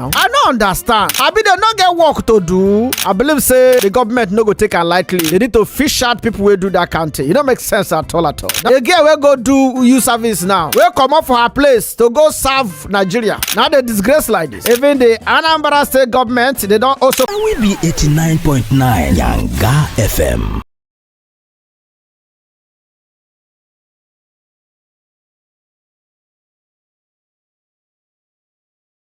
now. I no understand. Abi dem no get work to do. I believe say the government no go take am lightly. They need to fish out people wey do that kind thing. E no make sense at all at all. The girl wey go do you service now, wey comot for her place to go serve Nigeria, na dey disgrace like this. Even the Anambra state government, they don also. And we be 89.9 Yanga FM.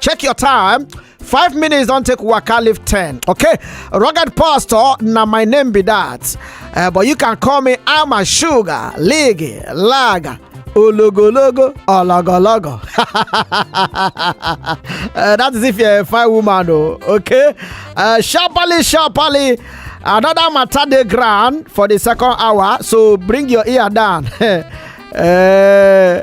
check your time five minutes don take waka leave ten okay rugged pastor na my name be that uh, but you can call me ama sugar ligi laga ologologo ologologo uh, that is if you're a fine woman o oh, okay uh, sharply sharply another matter dey ground for the second hour so bring your ear down. uh,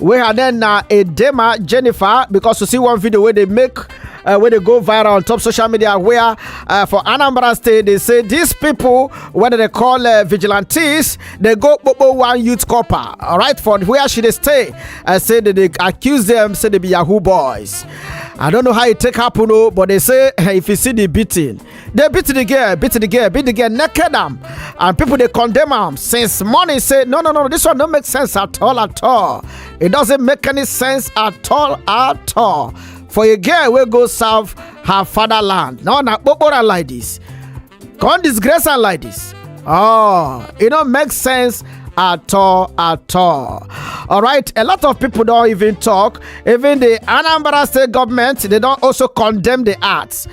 wey her name na edema jennifer because you see one video wey dey make uh, wey dey go viral on top social media where uh, for anambra state dey say these people wey dem dey call uh, vigilantes dey go kpokpo one youth corper alright for where she dey stay uh, say dem dey accuse dem say dem be yahoo boys i don't know how e take happen o but they say if you see the beating dey beat the girl beat the girl beat the girl naked am and people dey condemn am since morning say no no no this one no make sense at all at all it doesn't make any sense at all at all for a girl wey go serve her fatherland na na kpokpora like this come disgrace am like this oh e no make sense at all at all all right a lot of people don even talk even the anambra state government they don also condemn the act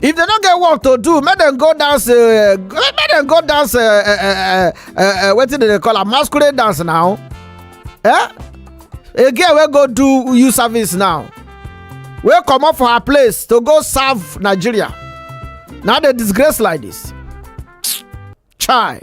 if they no get work to do make dem go dance uh, make dem go dance uh, uh, uh, uh, wetin dem dey call am masquerade dance now eh a girl wey go do youth service now wey comot for her place to go serve nigeria na dey disgrace like this chai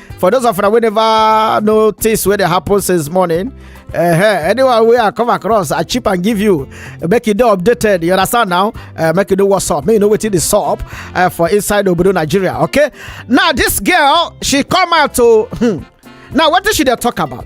for those of una wey never notice wey dey happen since morning uh, anyone wey i come across i chip and give you make you dey updated you understand now uh, make you know what's up make you know wetin dey sup uh, for inside obodo nigeria okay now this girl she come out to hmm, now wetin she dey talk about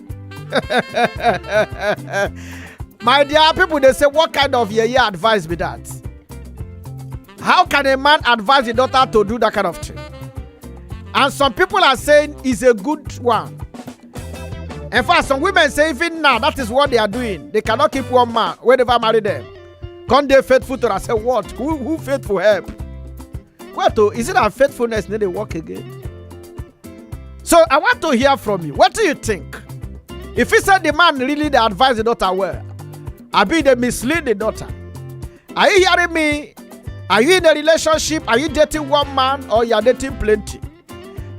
my dear people dey say what kind of yeye advice be that how can a man advise a daughter to do that kind of thing and some people are saying it's a good one in fact some women say even now that is what they are doing they cannot keep one man wey never marry them come dey faithful to am say what who who faithful help what o is it that faithfulness no dey work again so i want to hear from you wetin you think e fit say the man really dey advise the daughter well abi e dey mislead the daughter are you hearing me are you in a relationship are you dating one man or you are dating plenty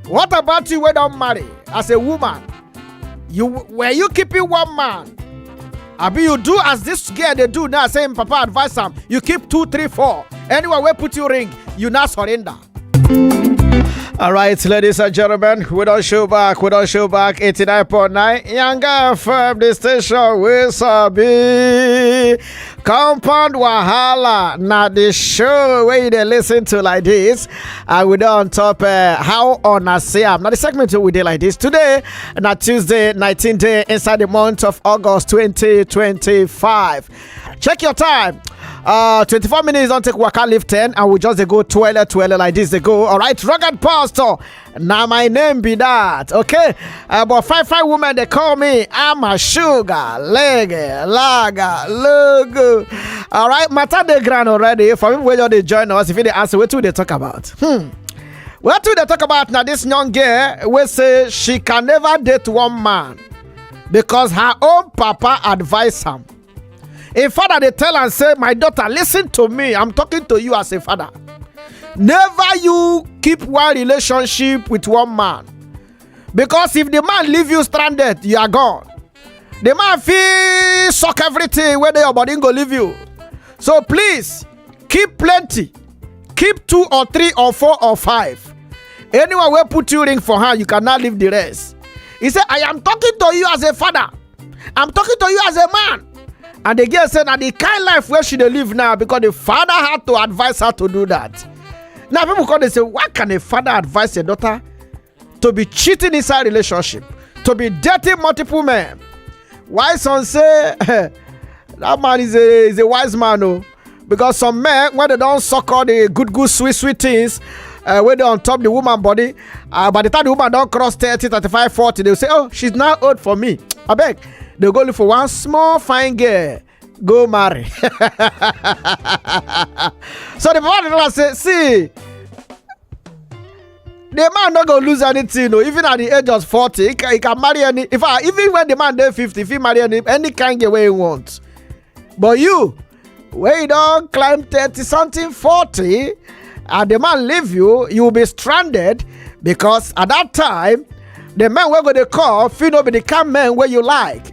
what about you wey don marry as a woman you were you keeping one man abi you do as this girl dey do now say im papa advise am you keep two three four anywhere wey put you ring you now surrender All right, ladies and gentlemen, we don't show back. We don't show back. 89.9 Yanga FM, the station we sabi. Compound Wahala. Now, the show where you dey listen to like this, I will don on top uh, how on I say am. Now, the segment we dey like this today, na Tuesday, 19th day inside the month of August 2025. Check your time. Uh, 24 minutes don't take waka live 10 and we just they go twirl twirl like this they go all right rugged pastor now my name be that okay uh, but five five women they call me i'm a sugar leg lager logo all right matter the grand already for people where they join us if you they answer what do they talk about hmm what do they talk about now this young girl will say she can never date one man because her own papa advise am im father dey tell am say my daughter listen to me i'm talking to you as a father never you keep one relationship with one man because if the man leave you stranded you are gone the man fit suck everything wey dey your body go leave you so please keep plenty keep two or three or four or five anyone wey put you ring for hand you can now leave the rest he say i am talking to you as a father i'm talking to you as a man and the girl say na the kind life wey she dey live now because the father had to advise her to do that now people come dey say why can a father advise a daughter to be cheating inside relationship to be dating multiple men why some say that man is a is a wise man oh, because some men when they don't suck all the good good sweet sweet things uh, when they on top the woman body uh, by the time the woman don't cross 30 35 40 they will say oh she's now old for me I beg. they go look for one small fine girl go marry so the papa tell am say see the man no go lose anything o even at the age of forty he can, he can marry any in fact even when the man dey fifty he fit marry any any kind girl wey he want but you wey you don climb thirty something forty and the man leave you you be stranded because at that time the men wey go dey call fit no be the kind men wey you like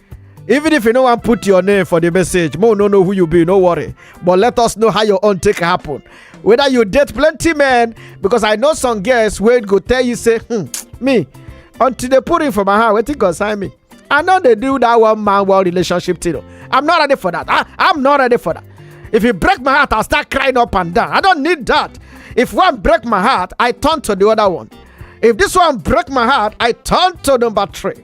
even if you no wan put your name for the message mo no know who you be no worry but let us know how your own take happen whether you date plenty men because i know some girls wey go tell you say hmm, me until they put him for my hand wetin concern me i no dey do that one man one relationship thing o i'm not ready for that i i'm not ready for that if you break my heart i'll start crying up and down i don't need that if one break my heart i turn to the other one if this one break my heart i turn to number three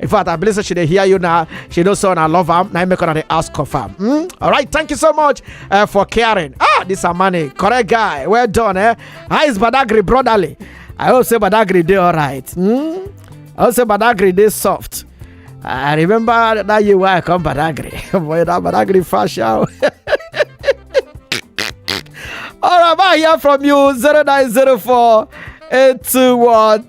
in fact i believe say she dey hear you now she know say una love am na im make una dey ask confam hmm? alright thank you so much uh, for caring ah this amani correct guy well done eh how is badagry brotherly i hope say badagry dey alright hmm? i hope say badagry dey soft i remember that year wey i come badagry boy that badagry fast sha o. All right, I hear from you 0904 821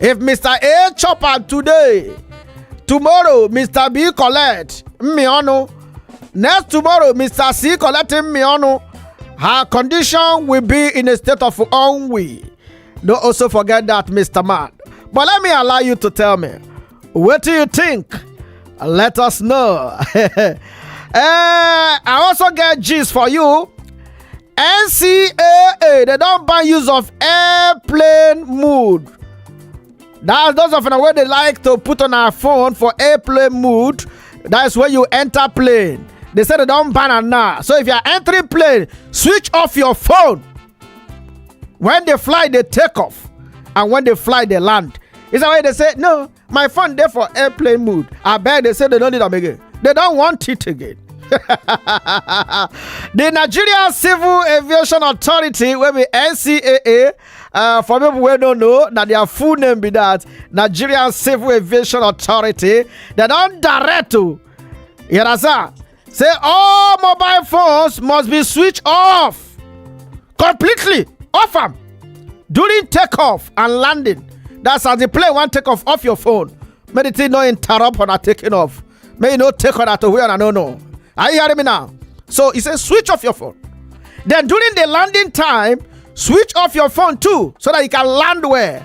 if mr a chop am today tomorrow mr b collect mmionu next tomorrow mr c collect mmionu her condition will be in a state of ennui no also forget that mr man but let me allow you to tell me what do you think let us know Eh, i also get gist for you ncaa dem don ban use of airplane mode that's those of una wey dey like to put on our phone for airplane mode that's when you enter plane they say they don ban am now so if you are entering plane switch off your phone when the flight dey take off and when the flight dey land is that why they say no my phone dey for airplane mode abeg dey say dem no need am again dem don want it again the nigeria civil aviation authority wey be ncaa uh, for people wey no know na their full name be that nigerian civil aviation authority dem don direct to you understand say all mobile phones must be switched off completely off am during takeoff and landing that's as the plane wan take off off your phone make the thing no interrupt una taking off make you no take una to where una no know are you hearing me now so he say switch off your phone then during the landing time switch off your phone too so that you can land well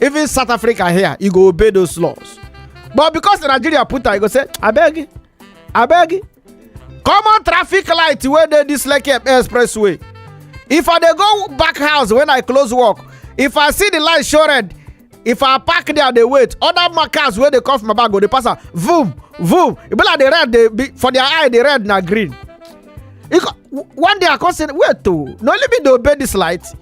even south africa here e go obey those laws but because the nigeria put am e go say abeg abeg common traffic light wey dey dis lekki expressway if i dey go back house when i close work if i see the light show red if i park there dey wait other ma- cars wey dey come from my back go dey pass am vroom vroom e be like the red dey be for their eye the red na green e co- w- one day i come say wait o na only me dey obey this light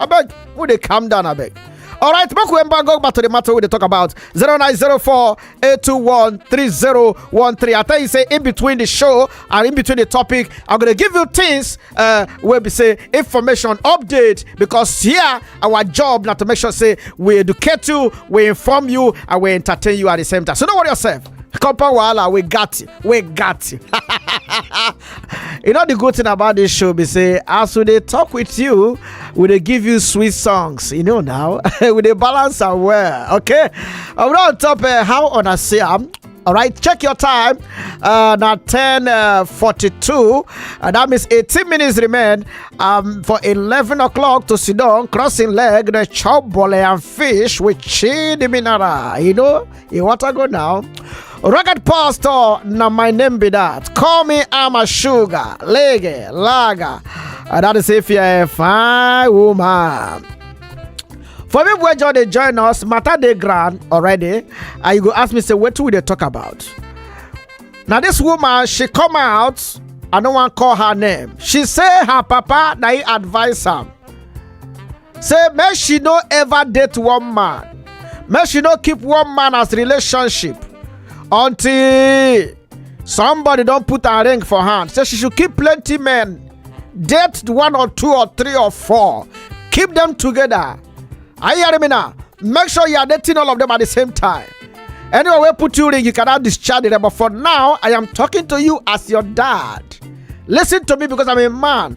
abeg we dey calm down abeg. All right, make we embargo back to the matter we dey talk about 0904 821 3013. I tell you, say in between the show and in between the topic, I'm gonna give you things uh where we say information update because here our job not to make sure say we educate you, we inform you, and we entertain you at the same time. So don't worry yourself. Compound Wahala, we got you. We got you. you know the good thing about this show be say as we dey talk with you we dey give you sweet songs you know now we dey balance am well okay i will on top uh, how una see am all right check your time uh, na 10 uh, 42 uh, that means 18 minutes remain um, for 11 o'clock to sit down crossing leg the chop bole and fish with chidi mineral you know You want to go now? Rugged pastor, now my name be that. Call me I'm a sugar, lege, lager. And that is if you're a fine woman. For people wey just dey join us, matter dey ground already, and you go ask me say wetin we dey talk about. Na this woman she come out, I no wan call her name. She say her papa na he advise am say make she no ever date one man make she no keep one man as relationship until somebody don put her ring for hand say she should keep plenty men date one or two or three or four keep them together are you hearing me now make sure you are dating all of them at the same time anyway wey put you ring you cannot discharge them but for now i am talking to you as your dad listen to me because i'm a man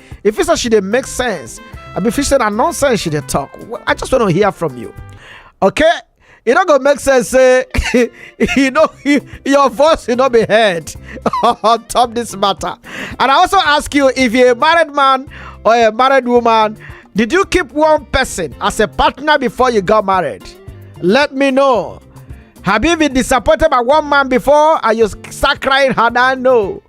If you say she dey make sense, I be fish say na nonsense she dey talk. Well, I just want to hear from you. Okay? E no go make sense say e no your voice e no be heard on top this matter. And I also ask you if you're a married man or a married woman, did you keep one person as a partner before you got married? Let me know. Have you been disappointed by one man before and you start crying, had I know?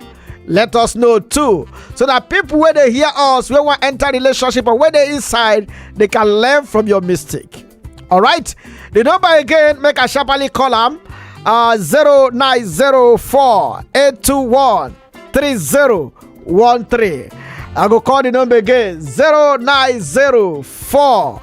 let us know too so that people where they hear us when we enter relationship or where they inside they can learn from your mistake all right the number again make a sharply call them uh 0904 821 3013 i go call the number again 0904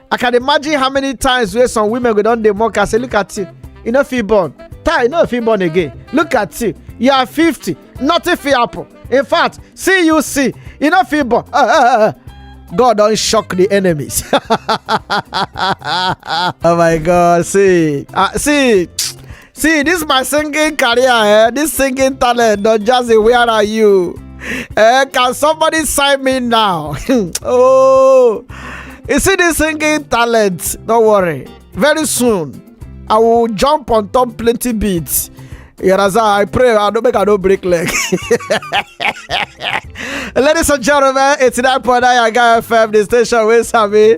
i can imagine how many times wey some women go don dey mock her say look at you you no fit born tai you no fit born again look at you you are fifty nothing fit happen in fact see you see you no fit born Ah, ah, ah, ah. god don shock the enemies oh my god see ah see see this my singing career eh this singing talent don just dey where are you eh can somebody sign me now oh you see this singing talent don't worry very soon i will jump on top plenty beats you understand i pray i don't make i no break leg ladies and gentlemen eighty-nine point nine yaga fm the station wey sabi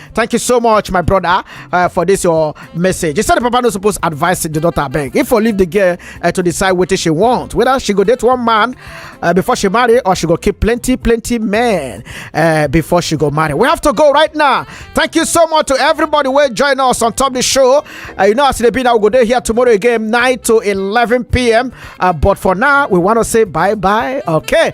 Thank you so much, my brother, uh, for this your message. You said the papa no supposed advise the daughter beg. If for leave the girl uh, to decide what she want, whether she go date one man uh, before she marry or she go keep plenty, plenty men uh, before she go marry. We have to go right now. Thank you so much to everybody who join us on top the show. Uh, you know, as it be now, we go there here tomorrow again, 9 to 11 p.m. Uh, but for now, we want to say bye bye. Okay.